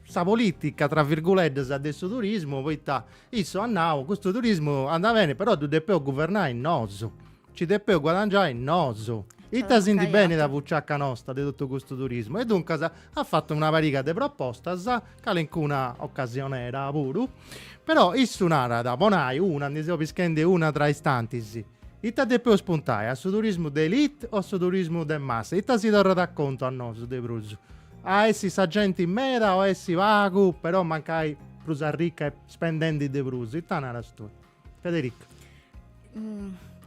sa politica, tra virguleddas, de su turismu, poita issu at nau, custu turismu andat beni, però ddu depeus guvernai nosu, nci depeus guadangiai nosu, ita si ndi benit a buciaca nosta de totu custu turismu. E duncas at fatu una pariga de propostas, calincuna ocasionera puru, però issu narat, po nai una, ndi seu pischendi una tra is tantis, Ita depeus puntai, a su turismu de elite o a su turismu de massa? Ita si torrat a contu a nosu de prus? A essi sa genti meda o essi pagu però mancai prus arrica e spendendi de prus? Ita naras tui? Federica.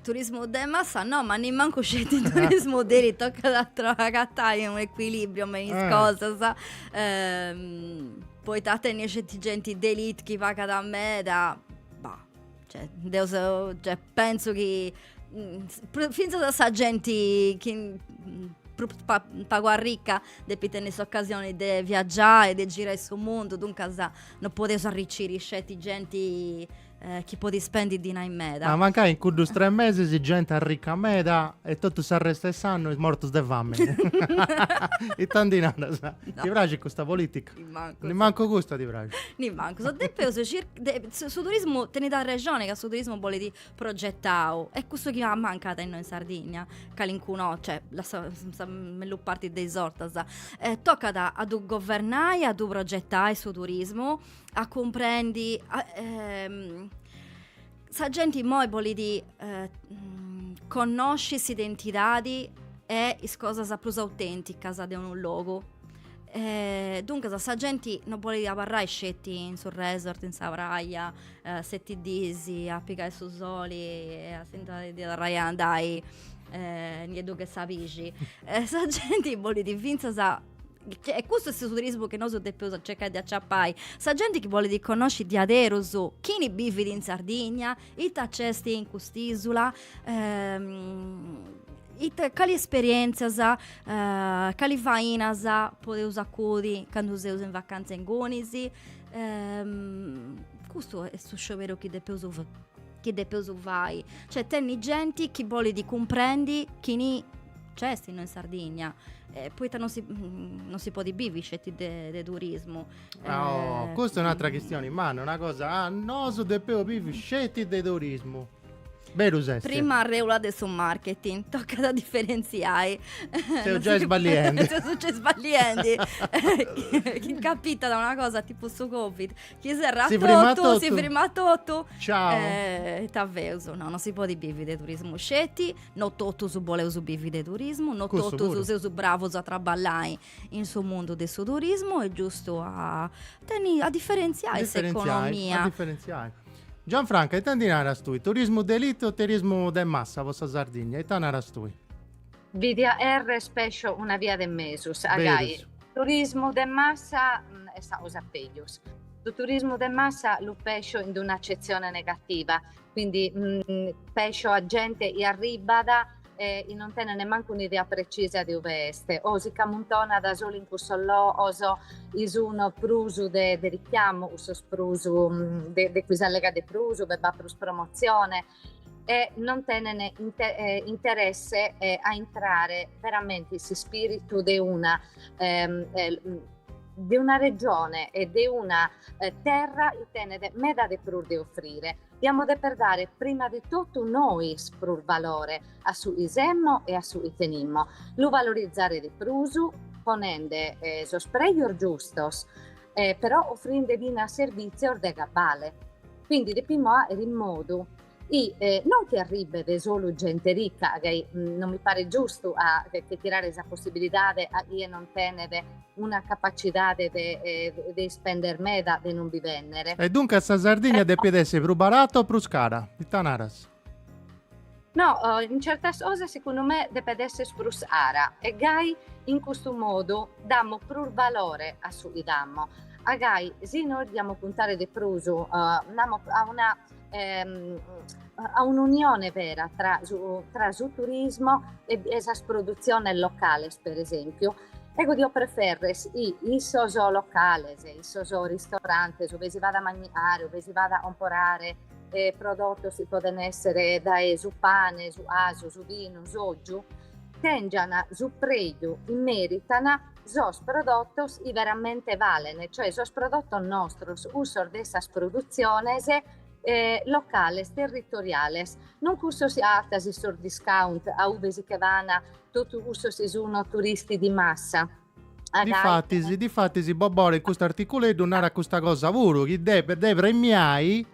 Turismu de massa no, ma nemmancu sceti turismu de elite, tocat a tro- agatai unu ecuilibrio me is cosas poita a tenni sceti genti de elite chi pagat meda, bah Cioè, deo so, cioè, penso chi mm, finzas a sa genti chi mm, prus pa, pagu arricca depit tenni s'occasioni de viaggiai, de girai su mundu, duncas no podeus arriciri sceti genti eh, chi podit spendi dinai meda. Ma mancai in cuddus tres mesis genti arricca meda e totu s'arrestu 'e s'annu mortus de fami. Ita ndi naras? Ti praxit custa politica? Nimancu. Nimancu custa ti praxit. Nimancu, depeus su turismu tenit arrexoni ca su turismu bolit progetau est cussu chi ammancat innoi in Sardigna, calincunu, cioè sa mellus parti de is ortas, tocat a ddu governai, a ddu progetai su turismu, a cumprendi Sa genti immoi bolit eh, connosci s'identidadi e is cosas prus autenticas de unu logu. Eh, duncas sa genti non bolit abarrai sceti in su resort, in sa praia, eh, seti dis a pigai su soli e a si ndi torrai a andai eh, nieddu che sa pixi. Eh, sa genti bolit fintzas e custu est su turismu chi nosu depeus a cercai de aciapai, sa genti chi bolit connosci diaderus chini bivit in Sardigna, ita nc'est in cust'isula, ita cali esperientzias cali fainas podeus fai acoi candu seus in vacanza ingunis, custu est su scioberu chi depeus chi depeus fai, cioè tenni genti chi bolit cumprendi chini nc'est no in Sardigna, eh, poita non si podit bivi sceti de de turismu. Ah, oh, custa è un'atra chistioni manna, una cosa, ah, nosu depeus bivi sceti de turismu. Berus est. Prima reula de su marketing, tocat a diferentziai. Ses giai sballiendi. Ses giai sballiendi. Chi incapitat una cosa tipu su Covid, Chi serrat si totu, totu, si frimat totu. Ciao. Eh, ita feus? No, non si podit bivi de turismu sceti, no totus boleus bivi de turismu, no totus Cussu puru. seus bravus a traballai in su mundu de su turismu est giustu a tenni, a diferentziai, a diferentziai s'economia. A diferentziai. Gianfranca, ita ndi naras tui? Turismu de elite o turismu de massa po sa Sardigna? Ita naras tui? Bidia deu una via de mesu, aici. Berus. Turismu de massa est sa cosa pejus. Su turismu de massa lu pescio in d'una accezione negativa, quindi pescio a gente chi arribbat e chi non tenen nemancu un'idea precisa de ue est o si c'ammuntonan solu in cussos logos chi sun prus de richiamu, cussos prus de chi s'allegat de prus, ue b'at prus promotzione e non tenen inter, eh, interesse eh, a entrare veramente in s'ispiritu de una ehm, eh, de una regione e de una eh, terra chi tenet meda de prus de offrire. Diamo de deper dare prima di totu nois prus valore a su chi semus e a su chi tenimus, lu valorizzare de prus ponende eh, sos prejos giustos eh, però offrinde finas servìtzios de cabale. Quindi depimus fàghere in modu chi eh, non chi arribet solu gente ricca, ca mm, non mi paret giustu a che, che tirare sa possibilidade a chie non tenet una capacidade de, eh, de ispender meda de non bi vennere. E duncas sa Sardigna depit essi prus barata o prus cara? Ita naras? No, in certas cosas segundu me depet esser prus cara e gai in custu modu damo prus valore a su chi damo, gai si nois diamo puntare de prus damo, a una a un'unione vera tra tra su turismo e sas produtziones locales per esempiu, eo dio preferrer chi in sos locales, in sos ristorantes ue si vat a mandigare, ue si vat a comporare E prodotos chi podent èssere dae su pane, su casu, su binu, s'ògiu, tèngiant su preju chi mèritan sos prodotos chi veramente balent, cioè sos prodotos nostros, cussos de sas produtziones locales, territoriales, non cussos chi agatas in sos discount, a ue si che van totu cussos chi sun turisti di massa. Difatis, difatis Bobore in custu articuleddu narat custa cosa puru, chi depet de premiai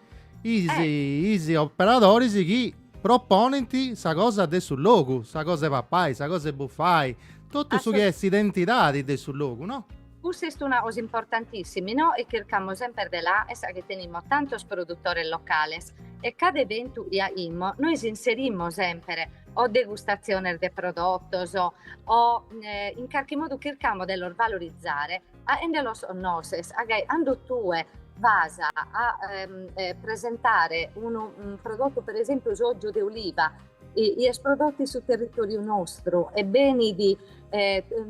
is, eh. is operadoris chi proponint sa cosa de su logu, sa cosa 'e papai, sa cosa 'e bufai, totu su chi est s'identidadi de su logu, no? Cussa est una cosa importantissima, no? E chircamus semper de la fagher, sa chi tenimus tantos produtores locales e cada eventu chi faghimus nois inserimus semper o degustatziones de prodotos o in carchi modu chircamo de los valorizare faghende los connoscher ca gai cando tue vas a presentare unu prodotu per esempiu s'ogiu de oliva chi est prodottu in su territoriu nostru e benit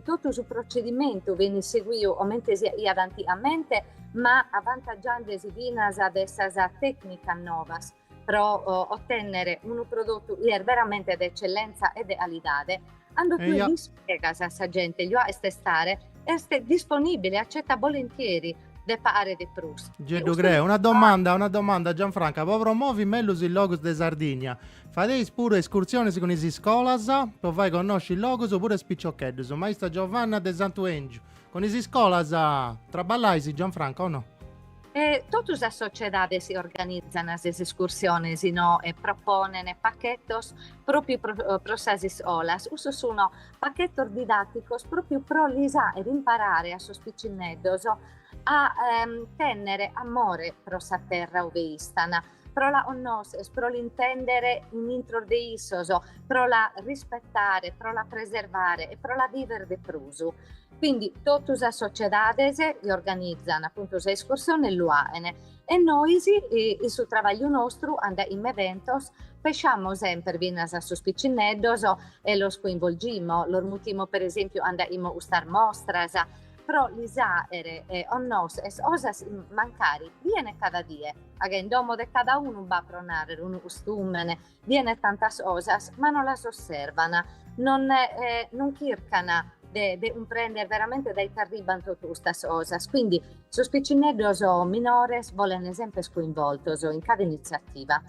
totu su procedimentu benit seguiu comente si faghiat antigamente ma avantaggiandesi finas de sas tecnicas novas pro otènnere unu prodotu chi est veramente de etzellentza e de alidade, cando tue l'ispregas a sa gente già est estare, est disponìbile, acetat bolentzieri de pagare de prus. Già ddu creo. Una domanda, una domanda, Gianfranca, po promovi mellus is logus de Sardigna, fadeis puru escursiones cun is iscolas po fai connosci is logus puru a is piciocheddus? Maista Giovanna de Santu 'Engiu, cun is iscolas traballais, Gianfranca, o no? E totu sas sociedades organizan sas escursiones no e proponen pachetos pròpiu pro sas iscolas. Cussos sun pachetos didàticos pròpiu pro lis àere imparare a sos picineddos a tènnere amore pro sa terra ube istan, pro la connòschere, pro l'intèndere in intro de issos, pro la rispetare, pro la preservare e pro la vìvere de prus. Quindi totu sas sociedades li organizan appunto sa escursione e lu aen e nois in su trabagliu nostru cando aimo eventos pessamo semper finas a sos piccinneddos e los coinvolgimo, los mutimo per esempiu cando aimo custas mostras pro lis aer connoscher cosas mancari bien cada die ca in domo de cada unu b'at pro narrer unu custumene Bien tantas cosas ma non las osservan, non non chircan de de cumprender veramente dae ite arribban totu custas cosas, quindi sos piccinneddos minores bolen semper coinvoltos in cada iniziativa.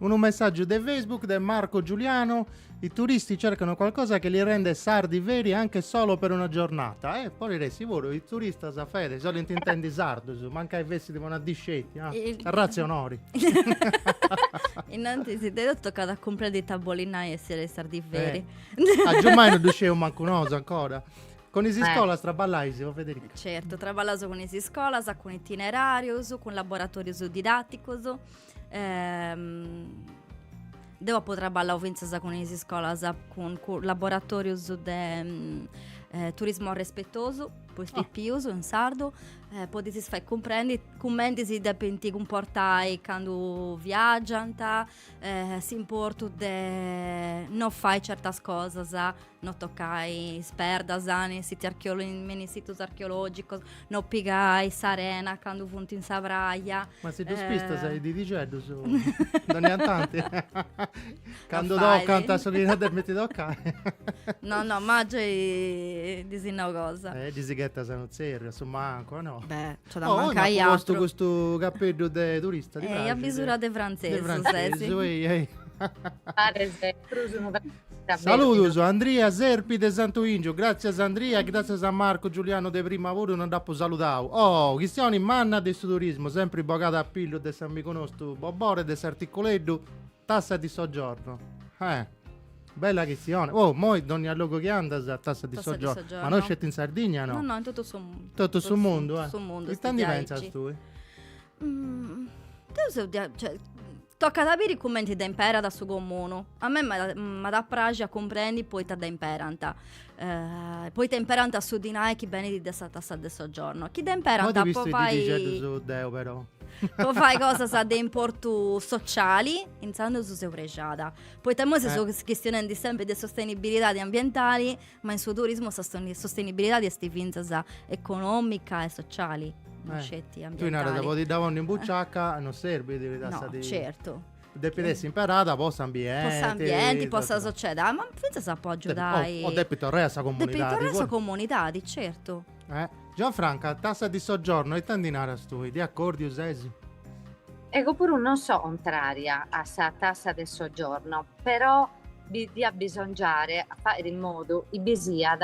Unu messàgiu de Facebook de Marco Giuliano, I turisti cercano qualcosa che li rende sardi veri anche solo per una giornata. Eh, podit essi puru, is turistas, Fede, si bolint intendi sardus, mancai fessit po una dì sceti, ah, arratzionori. Innantis de totu tocat a cumprendi ita bolit nai essiri sardi veri. Eh. A giummai no ddu sciu mancu nosu ancora. Cun is eh. iscolas eh. traballais, o Federica? Certu, traballaus cun is iscolas, cun itinerarius, cun laboratorius didaticus. Ehm, deu apu traballau fintzas cun is iscolas, cun, cun laboratorius de... Mm, eh, turismo respetosu, po is pipius in sardu, Eh, po ddis fai cumprendi cumenti si depint cumportai candu viagiant, eh, s'importu de no fai certas cosas, no tocai is perdas in sitis archeolo- in in situs archeologicus, no pigai s'arena candu funt in sa praja. Ma si ddus pistas a is didixeddus, no iant tanti. Candu tocant a su chi no depint tocai. No, no, ma giai ddi si nau cosa. Eh, ddi si ghetas unu tzerriu, a su mancu, o no? Beh, nc'at a mancai atru. Oh, postu custu capeddu de turista, ti praxit? Eh, a bisura de frantzesu, sesi. De frantzesu, ehi, ehi. Paris prus unu Saludus Andria Serpi de Santu Ingiu. Grazias Andria, grazias a Marco Giuliano de prima puru non dd'apu saludau. Oh, chistioni manna de su turismu, sempri bogada a pillu de s'amigu nostu Bobore de s'Articuleddu. Tassa di soggiorno. Eh. Bella chistione. Oh, moi dogna logu chi andas tassa di Tassa di soggiorno. soggiorno. Ma no sceti in Sardigna no? No, no, in totu su mundu. Totu su mundu, eh. Su mundu. Ita ndi pensas tui? Mm, deu seu dia... cioè, tocat a biri cumenti dda imperat su comunu. A mei m'at m'at a praxi a cumprendi po ita dda imperant. Eh, po ita imperant su dinai chi benit de sa tassa de soggiorno. Chi dd'imperant po fai... deo però. po fai cosas de importu sociali, intzandus seu prexada. Poita imoi si eh. seus chistionendi sempri de sostenibilidadi ambientali, ma in su turismu sa sostenibilidadi est fintzas economica e sociali. Eh. No sceti ambientali. Tu naras, po ti dda ponni in buciaca non serbit. No, certu. depit essi imperada po s'ambienti. Po s'ambienti, po sa sociedadi, ma finzas po agiudai. O, o depit torrai a sa comunidadi. Depit torrai a sa comunidadi, certu. Eh. Gianfranca, tassa di soggiorno ita ndi naras tui? De accordiu sesi? Ego puru non so contraria a sa tassa de soggiorno, però diat bisongiare a fàere in modu chi bi siat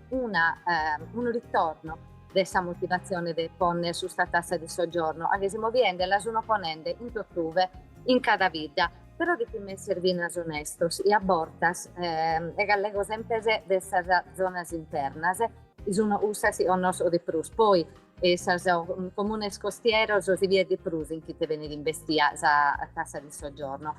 Una, unu ritorno de sa motivatzione de pònnere custa tassa de soggiorno a che si moviende la suno ponende in tottuve in cada bidda, però depimus èssere finas onestos e a bortas e allego semper de sas zonas internas, chi suno cussas chi connosco de prus, poi e sos comunes costieros si viet de prus in ite benit imbestia sa tassa de soggiorno.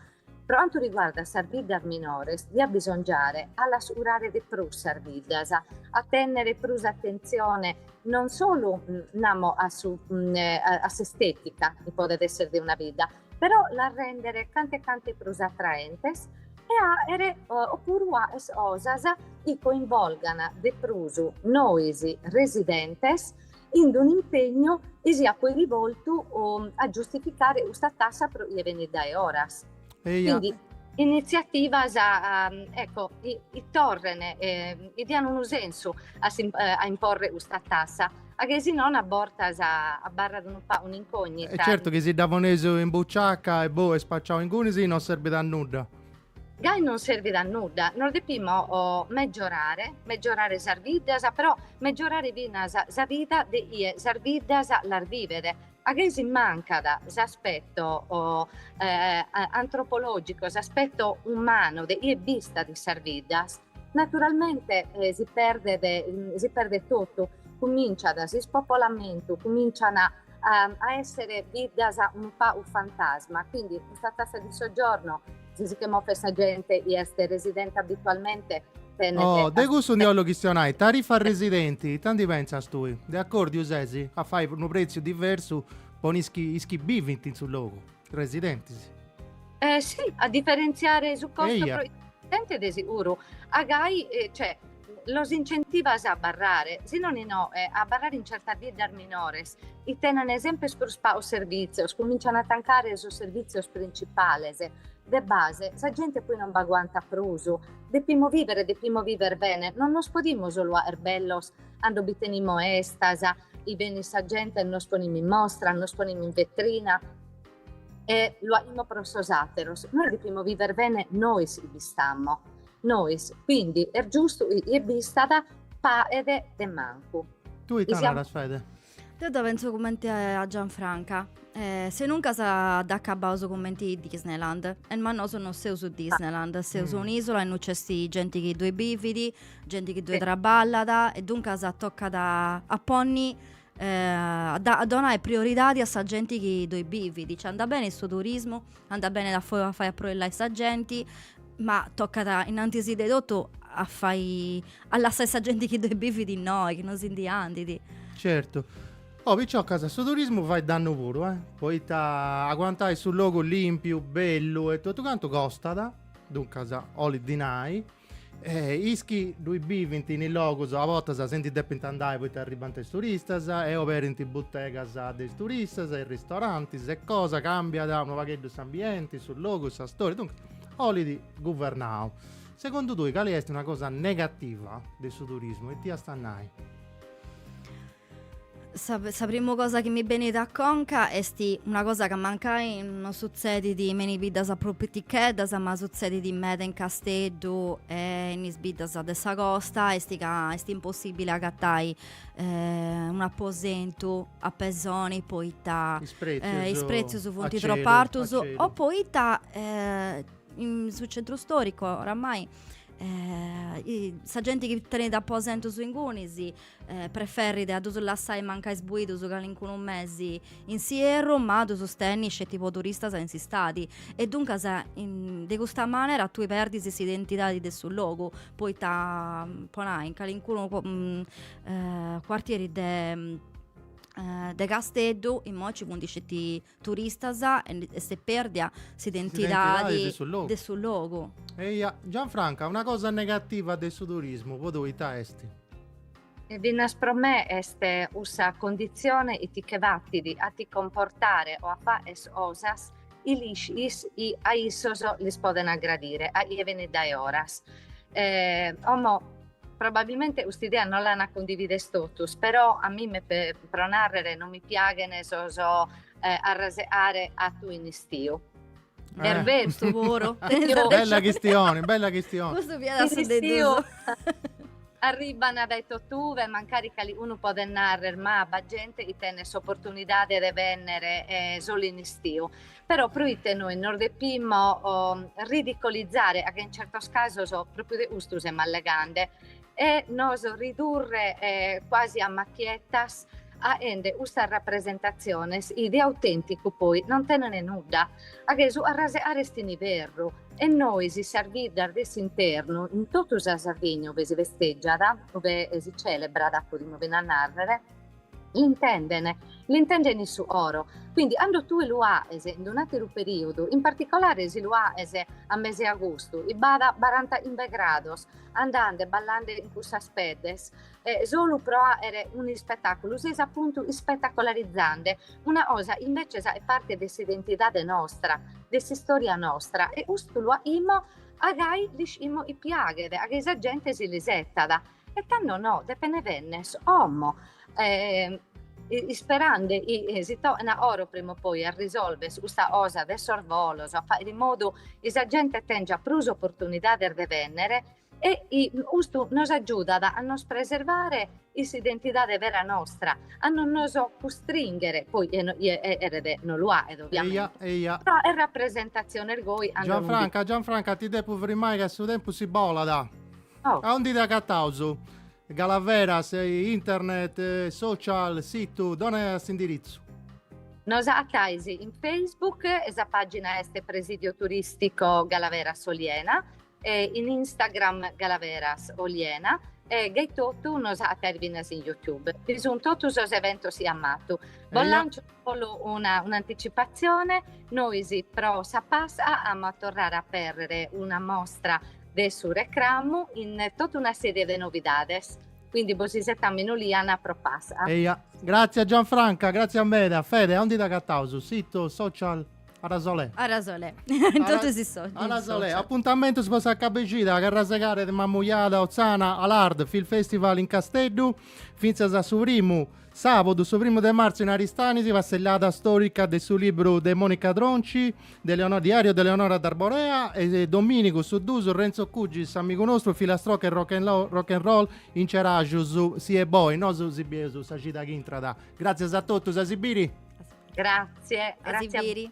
Pro cantu riguardat sas biddas minores, diat bisongiare a las curare de prus sas biddas, a tènnere prus atentzione non solu, namo, a su a s'estetica chi podet èssere de una bidda, però las rèndere canta e canta prus atraentes e a àere o puru cosas chi coinvolgant de prus nois residentes in d'unu impegnu chi siat poi rivoltu a giustificare custa tassa pro chie benit dae foras. Quindi initziativas ecco chi torren chi dian unu sensu a imporre custa tassa a che si non a bortas abarrat unu pagu un'incognita. E certu chi si dda poneis in buciaca e boh est spaciau ingunis non serbit a nudda. Gai non servit a nudda, nos depimo megiorare, megiorare sas viddas, però megiorare finas sa vida de ie sas viddas las vivet, a gai si mancat s'aspetto antropologico, s'aspetto umano de ie bistat in sas viddas. Naturalmente si perdet, si perdet totu, cuminciat s'ispopolamentu, cumincian a essere viddas unu pagu fantasma, quindi custa tassa di soggiorno, si si che movet sa gente chi est residente abitualmente tenet Oh, de cussu ndi 'ollu chistionai, tarifa residenti, ita ndi pentzas tui? De accordiu ses a fai unu pretziu diversu po is chi, is chi bivint in su logu? Residentes. Eh sì, a differenziare su costo Eia. po is residentes de seguru. A gai, eh, cioè, los incentivas a abarrare, si nono no, eh, a abarrare in certas viddas minores. chi tenene sempre is prus paus servìtzios, cumincian a tancare sos servìtzios principales. De base, sa gente poi non b'aguantat prus. Depimo vivere, depimo viver bene, non nos podimo solu 'aer bellos 'ando bi tenimo 'estas, 'i benit sa gente e nos ponimmo in mostra, nos ponimmo in vetrina e lo 'aimo pro sos ateros. Nos depimo viver bene nois 'i bistammo. Nois, quindi est giustu 'i 'ie bistat paghet de mancu. Tui ita naras Fede? Deu dda pensu cumenti a Gianfranca, senuncas dd'acabaus cumenti Disneyland, eh ma nosu no seus Disneyland, seus un'isola innoi c'est genti chi ddui bivit, Genti chi ddoi sì. traballat e duncas tocat a ponni eh, a, da, a donai prioridadi a sa genti chi ddoi bivit, cioè andat bene su turismo, andat bene a fai a, fai a aproillai sa genti, ma tocat innantis de totu a fai, a lassai sa genti chi ddoi bivit innoi, chi non si ndi andit. Certu. Oh, picciocas, su turismo fait dannu puru, eh? Poita aguantai su logu limpiu, bellu e totu cantu costat, duncas olit dinai, E is chi ddui bivint in is logus a bortas si ndi depint andai poita arribant is turistas e oberint butegas de is turistas e ristorantis e cosa cambiat unu pagheddu s'ambienti, su logu e sa storia, duncas olit guvernau. Segundu tui cali est una cosa negativa de su turismu it'iast a nai? Sa, sa primu cosa chi mi benit a conca est una cosa ca mancai non sutzedit me is biddas prus piticheddas, ma sutzedit meda in Casteddu e in is biddas de sa costa, est ca est impossibili agatai un'aposentu a pesoni poita is pretzius, is pretzius funt tropu artus o poita in su centru storicu oramai sa genti chi tenit aposentus ingunis si eh, preferrit a ddus lassai mancai sbuidus calincunu mesi in s'ierru, ma ddus tenni sceti po turistas in s'istadi, e duncas in, de custa manera tui perdis s'identidadi de su logu, poita po nai in calincunu mm, eh, cuartieri de eh, de Casteddu immoi ci funt sceti turistas e s'est pèrdia s'identidadi de su logu. Eia, Gianfranca, una cosa negativa de su turismu po tui ita est? E finas pro me est cussa conditzione chi ti che batit a ti comportare o a faer cosas chi l'iscis chi a issos lis podent aggradire a chie venit dae oras. Como Probabilmente custa idea non l'an a cundivides totus, però a mime pro narrer non mi piaghen sos arraseare atu in istiu. Berbetu puru. Bella chistione, bella chistione. Custu fiat a su de duos. Arribban dae totuve, mancari calicunu podet narrer, ma b'at gente chi tenet s'oportunidade de benner solu in istiu. Però proite nois nos depimo ridicolizare, a che in certos casos pròpiu de custu semus allegande, e nos ridurre quasi a machiettas aende custas rapresentatziones chi de autènticu poi non tenent nudda, a che su arraseare est in iberru e nois in sas biddas de s'internu, in totu sa Sardigna ue si festègiat, ue si celebrat podimo fina nàrrere, L'intenden, l'intenden in su coro. Quindi cando tue lu aes in un'ateru periodu, in particolare si lu aes a meseagustu, i b'at barantachimbe grados andande ballande in cussas peddes, solu pro aere un'ispetaculu, ses appuntu ispetacolarizande una cosa invece est parte de s'identidade nostra, de s'istoria nostra e custu lu aimo a gai l'iscimo i piaghet, a gai sa gente si l'isetat. E tando no, depene bennes omo isperande si torna oro prima o poi a risolvere custa cosa de sos bolos, a fagher in modu chi sa gente tengiat prus opportunidades de bennere e custu nos agiudat a nos preservare in s'identidade vera nostra, a non nos custringhere, poi cheret no lu aghet ovviamente. Eia, eia. Però est rapresentazione, ergoi. Gianfranca, Gianfranca ti depo frimare ca su tempus si bolat. Ciao. Aundi t'agataus? Galaveras, internet, social, situ, dona s'indiritzu. Nos acatais in Facebook e sa pàgina est Presidio Turistico Galaveras Oliena e in Instagram Galaveras Oliena e gai etotu nos acatais finas in YouTube. Bi sunt totus sos eventos chi amo atu. Bos lancio. Solu un'anticipatzione, nois pro sa Pasca amus a torrare a apèrrere una mostra de su recramu in tota una serie de novidades, quindi bos isetamus in Oliana pro Pasca. Eja, gratzia Gianfranca, gratzia meda. Fede, aundi t'agataus? Situ, social, Arasolè? Arasolè, in totus is social. Arasolè, apuntamentus po sa cab'e chida, Carrasegare de Mamujada, Otzana, Al Ard Film Festival in Casteddu, fintzas a su primu. Sàbodu, su primu de martzu in Aristanis, passellada stòrica de su libru de Monica Tronci, de Eleonora, Diario de Eleonora d'Arborea, e domìnigu, su duus, Renzo Cugis, s'amigu nostru, filastroca e rock and roll, rock and roll in Ceràxus, Si 'e Boi, nosu si bieus sa cida chi intrat. Gràtzias a totus, a si biri! Grazie, a si biri!